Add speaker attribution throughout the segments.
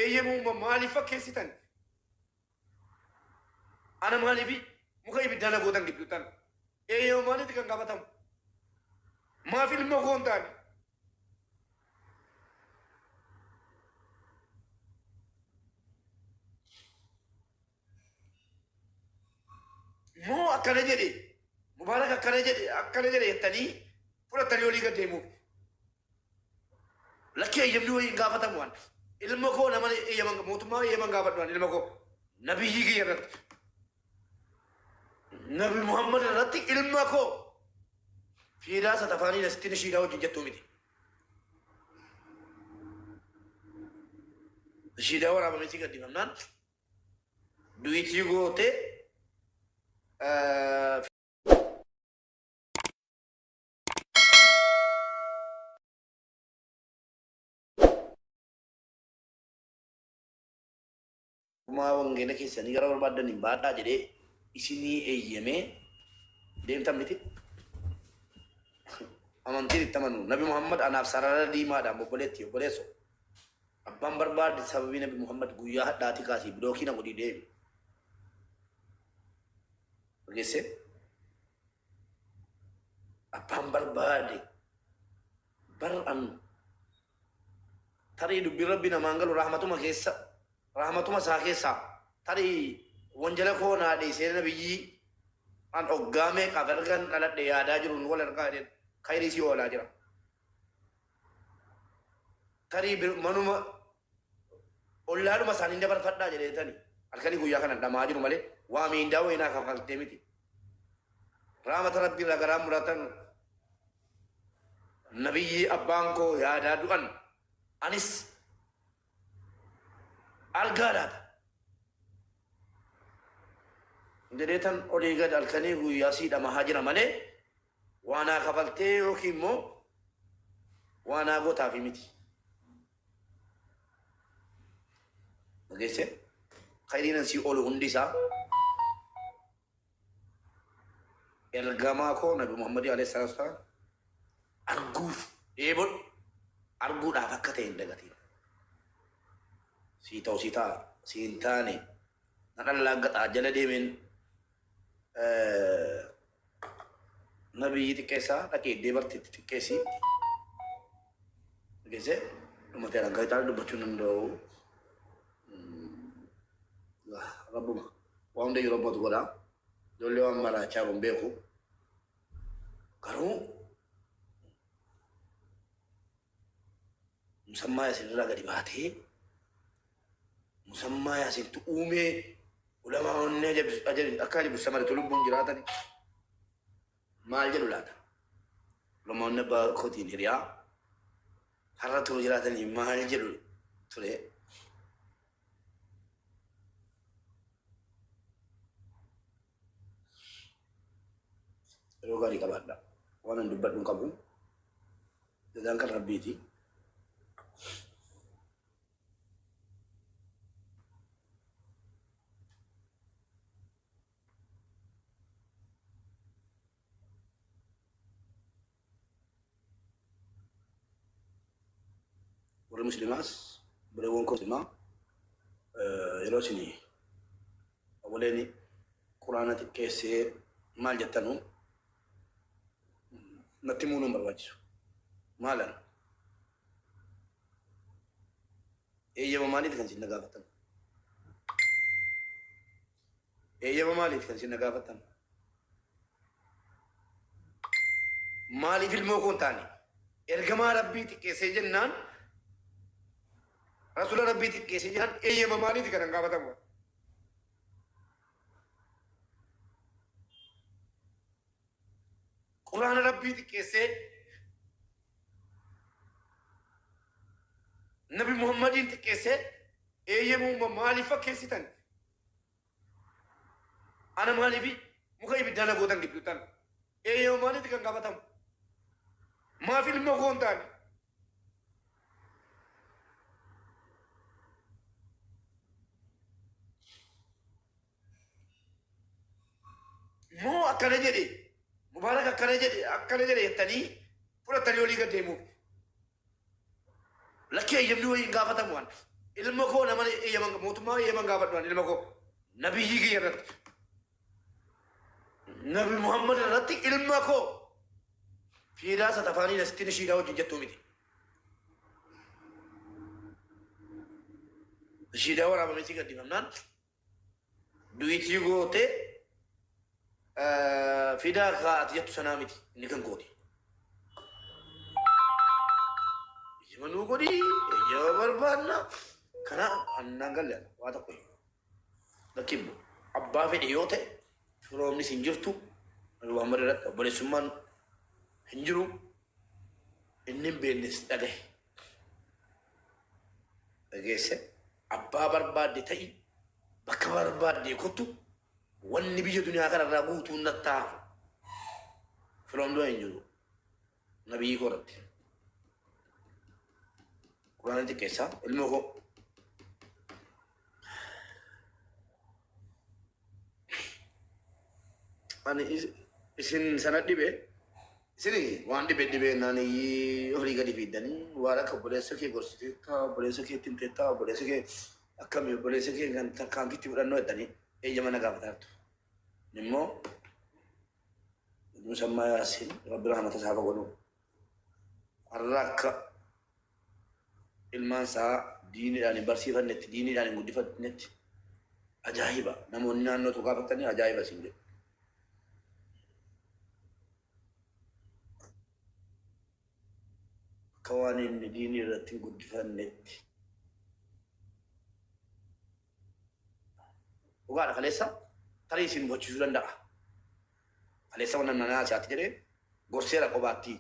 Speaker 1: Eeyyee moo ma- maaliif fakkeessitan? Ana maaliif muka ibiddaa na gootan gidduuttan? Eeyyee moo maalitti kan gaafatamu? Maaf ilma koo hin taane? Moo akkana jedhe, Mubaarak akkana jedhe, akkana jedhe jettanii fudhattanii olii gad deemuuf. Lakkii eyyamni wayii hin gaafatamu waan ta'eef. Ilma koo nama eyyama mootummaa eyyama hin gaafadhu ani ilma koo. Nabiyyii kiyya irratti. Nabi Muhammad irratti ilma koo. Fiidaa satafaanii nasittiin shiidaa wajjin jettuu miti. Shiidaa waraabamee si gaddifamnaan du'itii gootee Kumaa wangeela keessanii gara barbaaddan hin baadhaa jedhee isinii eeyyamee deemtan miti. Amantiin itti amanu. Nabi Muhammad anaaf sarara diimaadhaan obboleetti obboleesso. Abbaan barbaade sababii Nabi Muhammad guyyaa hadhaati kaasii bilookii na godhii deemi. Geessee. abbaan barbaade bar'an tarii dubbiin rabbi namaan galu rahmatuma keessa rahmatuma isaa keessaa tarii wanjala koo naa dhiisee nabiyyii an oggaa meeqaaf ergan dhaladhe yaadaa jiruun wal ergaa jedheen kayrii si oolaa jira tarii bir- manuma ollaadhuma isaaniin dabarfadhaa jedheetani halkanii guyyaa kana dhama'aa jiru malee waa miindaa wayii naa kaffaltee miti. Raamata Rabbii irraa garaa muratan nabiyyii abbaan koo yaadaa du'an anis argaa laata. Jedheetan olii gad halkanii guyyaa sii dhamahaa jira malee waa naa kaffaltee yookiin immoo waa naa gootaafii miti. Dhageesse? Khayriinan sii oolu hundi isaa ergamaa koo Nabi Muhammadii alayhi salaatu wasalaam arguuf dheebodhu arguudhaaf akka ta'e hin dagatiin. Sii ta'u sii ta'a sii hin taane na dhallaaggataa jala deemeen Nabiyyi xiqqeessaa dhaqee iddee barteetti xiqqeessii. Geze ummata irraa gaazexaan dubbachuu hin danda'u. Rabbuma waan hunda yeroo abbootu godha. Ijoollee waan maraachaa kun beeku. Garuu musammaa isinirraa gadi baatee Musammaa Yaasiintu uumee ulamaa onnee ajabis- ajabis- akka ajabu samaritu lubbuun jiraatani maal jedhu laata? Ulamaa onnee abbaa kootiin hiriyaa har'a turu jiraatanii maal jedhu ture? Yeroo gaarii qabaadha. Waan an dubbadhu hin qabu. Jazaan kan rabbiiti. warri muslimaas buleewwan koo muslimaa eh, yeroo isin awwaleen quraana xiqqeessee maal jettanu natti muunuun barbaachisu maalan Eeyyama maaliiti kan isin na gaafattan? Eeyyama maaliiti kan isin na gaafattan? Maaliif ilmoo koo hin taane? Ergamaa Rabbii xiqqeessee jennaan Rasuula Rabbii xiqqeessee jennaan eeyyama maaliiti kan hin gaafatamu? Quraana Rabbii xiqqeessee Nabi Muhammadiin xiqqeessee eeyyamuuma maaliif fakkeessitan? Ana maaliifi muka ibiddaa na gootan gidduuttan? Eeyyama maaliiti kan gaafatamu? Maaf ilma koo hin taane? Moo akkana jedhe Mubaarak akkana jedhe akkana jedhe jettanii fudhattanii olii gad deemuuf. Lakkii eeyyamni wayii hin gaafatamu waan ta'eef. Ilma koo nama eeyyaman mootummaa eeyyaman gaafadhu waan ilma koo nabiyyii kiyya irratti. Nabi Muhammad irratti ilma koo fiidaa isa tafaanii nasittiin ishiidhaa wajjin jettuu miti. Ishiidhaa waraabamee si gaddifamnaan Duitii goote fidaa kaa ati jettu sanaa miti inni kan kooti. Eyyama nuu godhi eyyama barbaanna kana annaan galle waa tokko hin bakki hin bu'u. Abbaa fedhe yoo ta'e firoomnis hin jirtu Nabi Muhammad irratti obboleessummaan hin jiru inni hin beeknes dhagahe. dhageesse abbaa barbaadde ta'i bakka barbaadde kottu wanni biyya duniyaa kanarraa guutuun nattaa firoomdoo hin jiru nabii koo irratti quraana xiqqeessaa ilmoo koo ani is- isin sana dhibe isin waan dhibe dhibe naan iyyii olii gadi fiiddanii waan akka obboleessa kee gorsiteettaa obboleessa kee ittiin teettaa obboleessa kee akkami obboleessa kee kan tarkaanfiitti fudhannoo jettanii eeyyama na gaafataartu immoo musammaa yaasiin rabbi rahmata isaa godhu har'a akka ilmaan isaa diiniidhaan hin barsiifannetti, diiniidhaan hin guddifannetti ajaa'iba. Namoonni naannoo tokko gaafatanii ajaa'iba isin jedhu. Akka waan inni diinii irratti hin guddifannetti. Dhugaadha kaleessa tarii isin bochiisuu danda'a. Kaleessa wanna nanaa si'aatti jedhe gorseera qobaatti.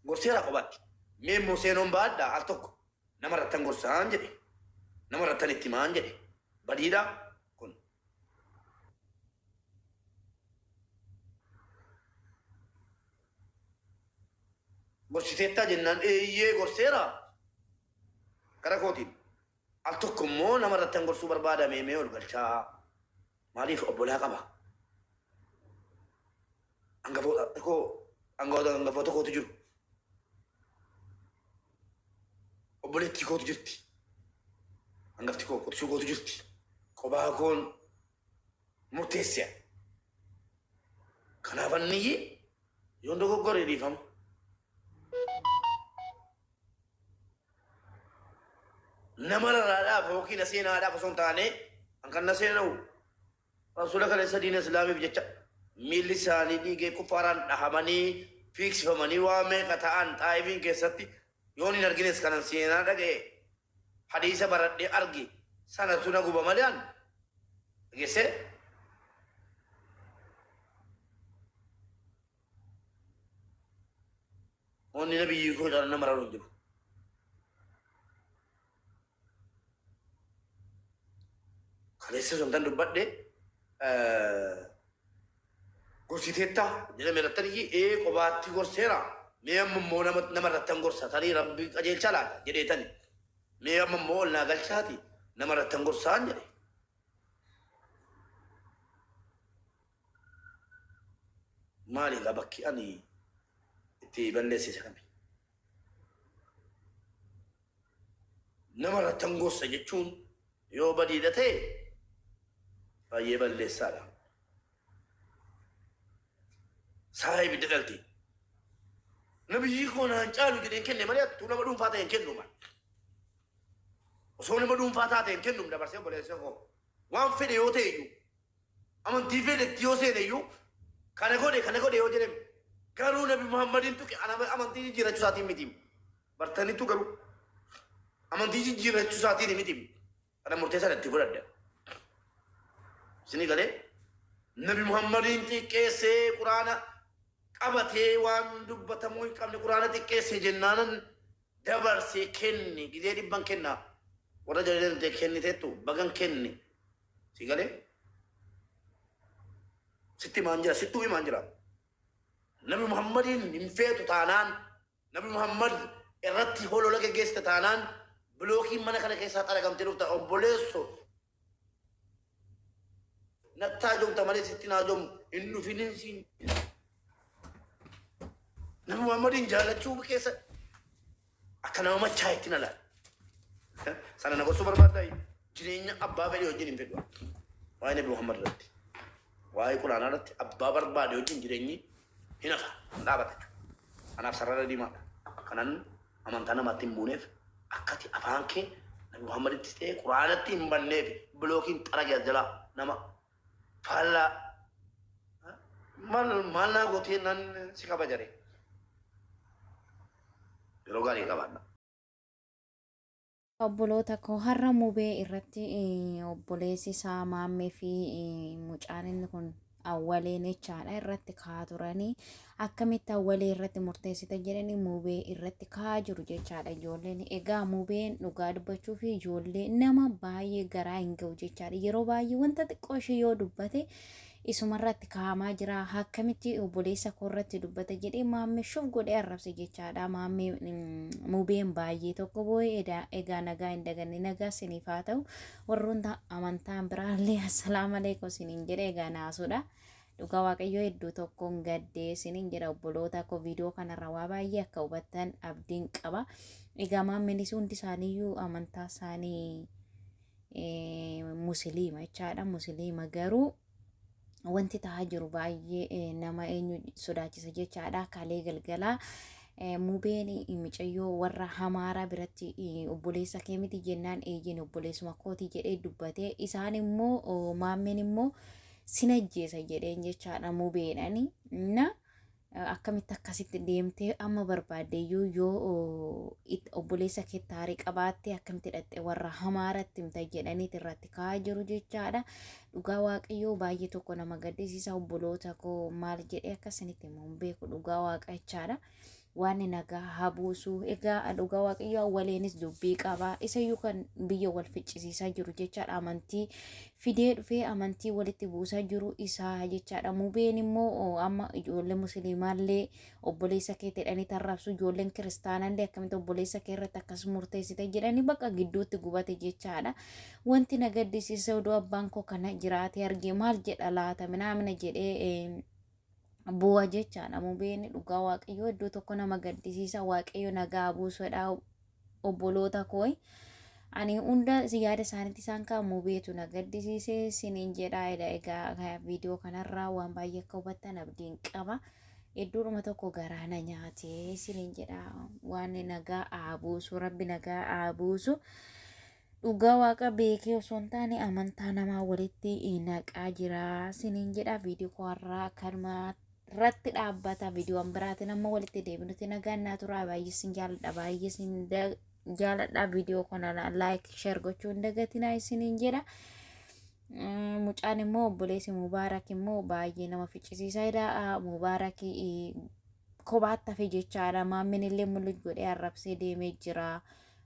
Speaker 1: Gorseera qobaatti. Mee immoo seenoon baadhaa al tokko nama irrattan gorsaan jedhe. Nama irrattan itti himaan jedhe. Badiidha kun. Gorsiteettaa jennaan eeyyee gorseera kara kootiin. Al tokko immoo nama irrattan gorsuu barbaada mee mee ol galchaa maaliif obbolaa qaba angafoota koo angafoota angafoota kootu jiru obboleettii kootu jirti angafti koo qotisuu kootu jirti qobaa koon murteesseera. Kanaaf anniyyi yoon dogoggore dhiifama. Nama raraadhaaf yookiin aseenaadhaaf osoo hin taane an kan naseena'u rasuula kaleessa diina islaamiif jecha miilli isaanii dhiigee kuffaaraan dhahamanii fiigsifamanii waa meeqa ta'an xaa'ifiin keessatti yoon hin argines kanan seenaa dhaga'e Hadiisa baradhee arge sanatu na guba malee an dhagesse. Wanni nabiyyii koo caalaa na mararu hin jiru. Kaleessa sun tan dubbadhe gorsiteetta jedhame irrattaniyyi ee qobaatti gorseera mee amma immoo nama nama irrattan gorsa tarii rabbi qajeelcha laata jedheetani mee amma immoo ol naa galchaati nama irrattan gorsaan jedhe maali egaa bakki ani itti balleessise kami Nama irrattan gorsa jechuun yoo badiidha ta'e baay'ee balleessaadha. Saaraa ibidda dhalti. Nabiyyii koo naan caalu jedheen kenne malee attuu nama dhuunfaa ta'e hin kennu mal. Osoo nama dhuunfaa taate hin kennu dabarsee obboleessa koo. Waan fedhe yoo ta'e iyyuu Amantii feete itti yoo seene iyyuu kana godhe kana godhe yoo jedhem garuu nabi muhammadin tuqe amantii jijjiirrachu isaatiin mitiim bartanitu garuu amantii jijjiirrachu isaatiin mitiim kana murtee sana itti godhadda isinii galee nabi muhammadin xiqqeessee quraana qabatee waan dubbatamuu hin qabne quraana xiqqeesse jennaanan dabarsee kenne gizee dhibban kennaa warra jalalee kenniteettu bagan kenne Si galee? Sitti himaan jira, sittuu himaan jira. Nabi Muhammadiin hin feetu taanaan, Nabi Muhammad irratti holola geggeessita taanaan, bilookiin mana kana keessaa xaragamtee dhufta. Obboleesso, natti haajomta malee sitti hin haajomu. Hin dhufinin siin. Nabi Muhammadiin jaallachuu keessa Akka nama machaa'etti na laala. Sana na gorsuu barbaaddaa? Jireenya abbaa fedhii wajjin hin fedhu. Waa'ee Nabi Muhammad irratti, waa'ee Quraanaa irratti abbaa barbaade wajjin jireenyi hin hafa, hin dhaabata jechuudha. Kanaaf sarara diimaadha. Kanan amantaa namaatti hin buuneef akkati afaan kee Nabi Muhammaditti ta'ee Quraanatti hin banneef bilookiin xarage as jalaa nama faallaa maal maal naa gootee nan si kabajare yeroo gaarii qabaadha.
Speaker 2: Obboloota koo har'a mubee irratti eh, obboleessi isaa maammee fi eh, mucaan inni kun awwaleen jechaadha irratti ka'aa turanii akkamitti awwalii irratti murteessita jedhanii mubee irratti ka'aa jiru jechaadha ijoolleen egaa mubeen dhugaa dubbachuu fi ijoollee nama baay'ee garaa hin ga'u jechaadha yeroo baay'ee wanta xiqqoo ishee yoo dubbate isumarratti kaa'amaa jira akkamitti obboleessa koo irratti dubbata jedhee maammee shuuf godhee arrabse jechaadha maammee mubeen baay'ee tokko boo'ee egaa nagaa hin daganne nagaa siniif haa ta'u warroota amantaan biraallee assalaamu alaikum siniin jedhee egaa naasuudha. Dhugaa waaqayyoo hedduu tokkoon gaddee isiniin jedha obboloota koo viidiyoo kanarra waa baay'ee akka hubattan abdiin qaba. Egaa maammilis hundi isaaniiyyuu amantaa isaanii musiliima jechaadha. Musiliima garuu wanti ta'aa jiru baay'ee nama eenyu sodaachisa jechaadha. Kalee galgalaa mubeen micayyoo warra hamaaraa biratti obboleessa kee miti jennaan eeyyeen obboleessuma kooti jedhee dubbate. Isaan immoo maammeen immoo sin ajjeesa jedheen jechaadha mubeedhani na akkamitti akkasitti deemtee amma barbaaddeeyyuu yoo obboleessa kee taarii qabaattee akkamitti dhaqxe warra hamaaratti himta jedhaniit irratti ka'aa jiru jechaadha dhugaa waaqayyoo baay'ee tokko nama gaddisiisa obboloota koo maal jedhee akkasinitti immoo hin beeku dhugaa waaqachaadha Waanni nagaa haa buusu. Egaa dhugaa waaqayyoo awwaleenis dubbii qaba. Isayyuu kan biyya wal ficcisiisaa jiru jechaadha. Amantii fidee dhufee amantii walitti buusaa jiru isaa jechaadha. Mubeen immoo oo, amma ijoollee musliimaallee obboleessa keetti jedhanii tarraabsu ijoolleen kiristaanaallee akkamitti obboleessa kee irratti akkas murteessite jedhanii bakka gidduutti gubate jechaadha. Wanti na gaddisiise oduu abbaan koo kana jiraatee argee maal jedha laata minaamina jedhee eh, bu'a jechaadha mubeen dhugaa waaqayyoo iddoo tokko nama gaddisiisa waaqayyo nagaa buusuudha obboloota koo ani hunda yaada isaaniitti isaan kaa mubeetu na gaddisiise siniin jedha ila egaa viidiyoo kanarraa waan baay'ee akka hubattan abdiin qaba iddoodhuma tokko garaa na nyaate siniin jedha waan nagaa haa buusu rabbi nagaa haa buusu Dhugaa waaqa beekee osoo hin taane amantaa namaa walitti naqaa jira siniin jedha viidiyoo koo har'aa kanuma irratti dhaabbata viidiyoon biraatiin amma walitti deebinuti nagaan naa turaa baay'ee sin jaaladha baay'ee sin jaaladha viidiyoo kana laayik sheer gochuu hin dagatinaa isiniin jedha. Mucaan immoo obboleessi Mubaarak immoo baay'ee nama ficcisiisaa jira Mubaarak kophaatti hafe jechaadha maammin illee mul'uj godhee arrabsee deemee jira.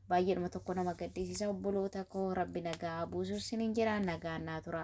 Speaker 2: baay'eedhuma tokko nama gaddisiisa obboloota koo rabbi nagaa buusu sinin jedha nagaa naa tura.